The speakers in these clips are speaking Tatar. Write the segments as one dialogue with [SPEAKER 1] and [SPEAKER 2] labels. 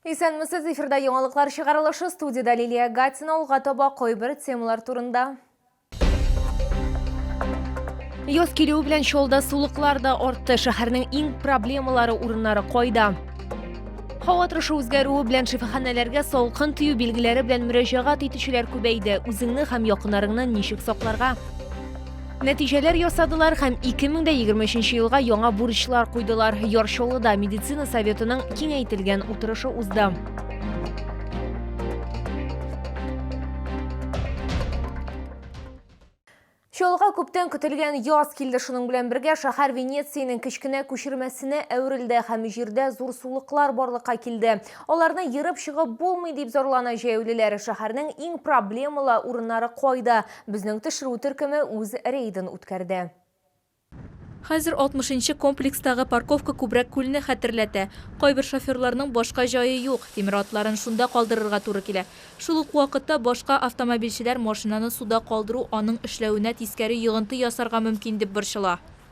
[SPEAKER 1] Исәнмесез, эфирда яңалыклар чыгарылышы, студиядә Лилия Гатина, алга таба кайбер темалар турында. Яз килүе белән чалда сулыклар да артты. Шәһәрнең иң проблемалары урыннары кайда? Һава торышы үзгәрүе белән шифаханәләргә салкын тию билгеләре белән мөрәҗәгать итүчеләр күбәйде. Үзеңне һәм якынарыңны ничек сакларга? Нәтиҗәләр ясадылар һәм 2023 елга яңа бурычлар куйдылар. Яр Чаллыда медицина советының киңәйтелгән утырышы узды. Чаллыга күптән көтелгән яз килде шуның белән бергә шәһәр Венецияның кечкенә күчермәсенә әверелде һәм җирдә зур сулыклар барлыкка килде. Аларны ерып чыгып булмый дип зарлана җәяүлеләр. Шәһәрнең иң проблемалы урыннары кайда? Безнең төшерү төркеме үз рейдын үткәрде.
[SPEAKER 2] Хәзер алтмышынчы комплекстагы парковка күбрәк күлне хәтерләтә. Кайбер шоферларның башка җае юк, тимер атларын шунда калдырырга туры килә. Шул ук вакытта башка автомобильчеләр машинаны суда калдыру аның эшләвенә тискәре йогынты ясарга мөмкин дип борчыла.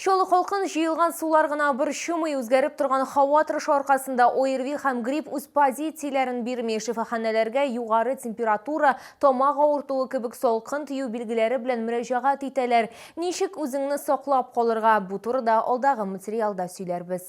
[SPEAKER 1] Чаллы халкын җыелган сулар гына борчымый, үзгәреп торган һава торышы аркасында ОРВИ һәм грипп үз позицияләрен бирми. Шифаханәләргә югары температура, тамак авыртуы кебек салкын тию билгеләре белән мөрәҗәгать итәләр. Ничек үзеңне саклап калырга? Бу турыда алдагы материалда сөйләрбез.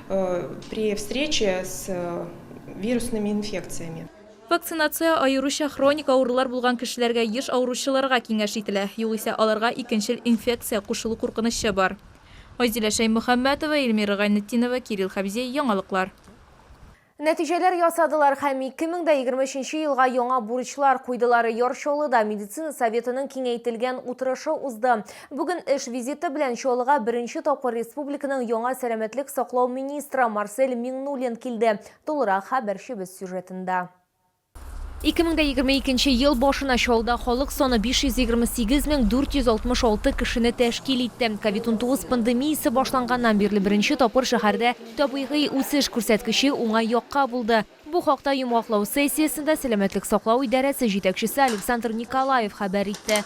[SPEAKER 3] Вакцинация
[SPEAKER 2] аеруча хроник авырулар булган кешеләргә еш авыручыларга киңәш ителә, югыйсә аларга икенчел инфекция кушылу куркынычы бар. Айзилә Шәймөхәммәтова, Эльмира Гайнетдинова, Кирилл Хәбзи, Яңалыклар.
[SPEAKER 1] Нәтиҗәләр ясадылар һәм 2023 нче елга яңа бурычлар куйдылар. Яр Чаллыда медицина советының киңәйтелгән утырышы узды. Бүген эш визиты белән Чаллыга беренче тапкыр республиканың яңа сәламәтлек саклау министры Марсель Миңнуллин килде. Тулырак хәбәрчебез сюжетында. 2022 нче ел башына Чаллыда халык саны 528 мең 466 кешене тәшкил итте. Ковид-19 пандемиясе башланганнан бирле беренче тапкыр шәһәрдә табигый үсеш күрсәткече уңай якка булды. Бу хакта йомгаклау сессиясендә сәламәтлек саклау идарәсе җитәкчесе Александр Николаев хәбәр итте.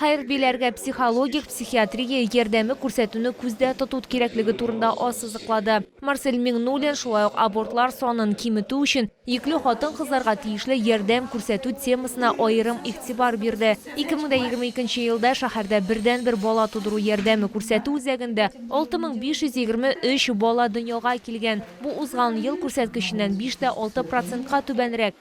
[SPEAKER 1] Хәрбиләргә психологик, психиатрия ярдәме күрсәтүне күздә тоту кирәклеге турында ассызыклады. Марсель Миңнуллин шулай ук абортлар санын киметү өчен йөкле хатын-кызларга тиешле ярдәм күрсәтү темасына аерым игътибар бирде. 2022 нче елда шәһәрдә бердәнбер бала тудыру ярдәме күрсәтү үзәгендә 6523 бала дөньяга килгән, бу узган ел күрсәткеченнән биш тә алты процентка түбәнрәк.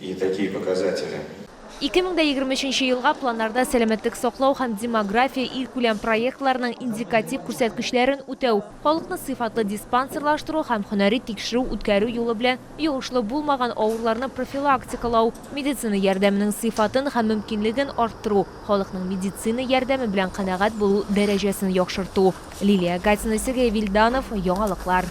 [SPEAKER 4] И такие показатели. Ике мең дә егерме
[SPEAKER 1] өченче елга планнарда сәламәтлек саклау һәм демография илкүләм проектларының индикатив күрсәткечләрен үтәү, халыкны сыйфатлы диспансерлаштыру һәм һөнәри тикшерү үткәрү юлы белән йогышлы булмаган авыруларны профилактикалау, медицина ярдәменең сыйфатын һәм мөмкинлеген арттыру, халыкның медицина ярдәме белән канәгать булу дәрәҗәсен яхшырту. Лилия Гатина, Сергей Вильданов, Яңалыклар.